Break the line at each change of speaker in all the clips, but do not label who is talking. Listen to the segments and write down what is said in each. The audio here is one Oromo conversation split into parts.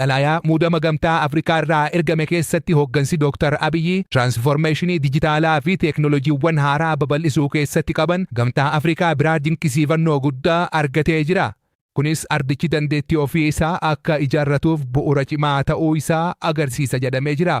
Xalayaa muudama Gamtaa Afrikaa irraa ergame keessatti hoggansi Dooktar Abiy tiraansfoormeeshinii dijitaalaa fi teeknoolojiiwwan haaraa babal'isuu keessatti qaban Gamtaa Afrikaa biraa dinqisiifannoo guddaa argatee jira. Kunis ardichi dandeettii ofii isaa akka ijaarratuuf bu'uura cimaa ta'uu isaa agarsiisa jedhamee jira.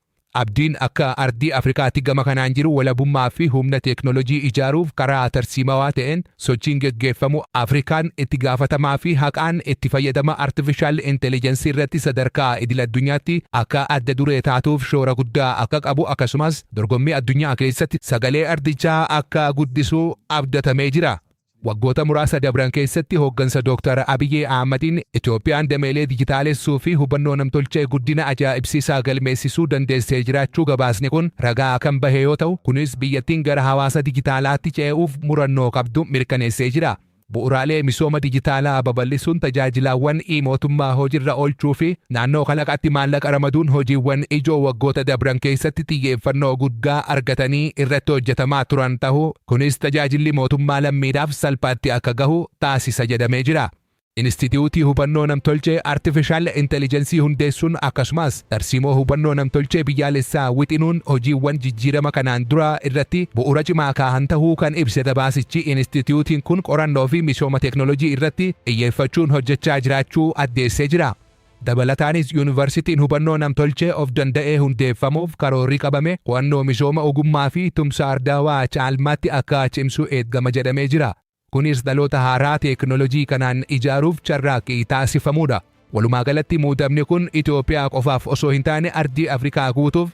Abdiin akka ardii Afrikaatti gama kanaan jiru walabummaa fi humna teeknoolojii ijaaruuf karaa tarsiimawaa ta'een sochiin geggeeffamu Afrikaan itti gaafatamaa fi haqaan itti fayyadama artifishaal intelijansii irratti sadarkaa idil-addunyaatti akka adda duree taatuuf shoora guddaa akka qabu akkasumas dorgommii addunyaa keessatti sagalee ardichaa akka guddisu abdatamee jira. Waggoota muraasa dabran keessatti hooggansa Dooktar Abiy Ahmadiin Itoophiyaan dameelee dijitaalessuu fi hubannoo namtolchee guddina ajaa'ibsiisaa galmeessisuu dandeessee jiraachuu gabaasni kun ragaa kan bahe yoo ta'u, kunis biyyattiin gara hawaasa dijitaalaatti cee'uuf murannoo qabdu mirkaneessee jira. Bu'uuraalee misooma dijitaalaa babal'isuun, tajaajilaawwan e-mootummaa hojirra oolchuu fi naannoo kalaqaatti maallaqa ramaduun hojiiwwan ijoo waggoota dabran keessatti xiyyeeffannoo guddaa argatanii irratti hojjetamaa turan tahuu Kunis tajaajilli mootummaa lammiidhaaf salphaatti akka gahu taasisa jedhamee jira. Inistitiyuutii Hubannoo Namtolchee Artifishaal Intelijensii hundeessuun akkasumas tarsiimoo hubannoo namtolchee biyyaalessaa wixinuun hojiiwwan jijjiirama kanaan duraa irratti bu'uura cimaa kaahan tahuu kan ibse gabaasichi inistitiyuutiin kun qorannoofi misooma teeknolojii irratti xiyyeeffachuun hojjechaa jiraachuu addeessee jira. Dabalataanis Yuunivarsitiin hubannoo namtolchee of danda'ee hundeeffamuuf karoorri qabame qo'annoo misooma ogummaa fi tumsa ardaawaa caalmaatti akka cimsu eegama jedhamee jira. Kunis dhaloota haaraa teeknolojii kanaan ijaaruuf carraaqqii taasifamuudha. Walumaagalatti muudamni kun Itoophiyaa qofaaf osoo hin taane ardii Afrikaa guutuuf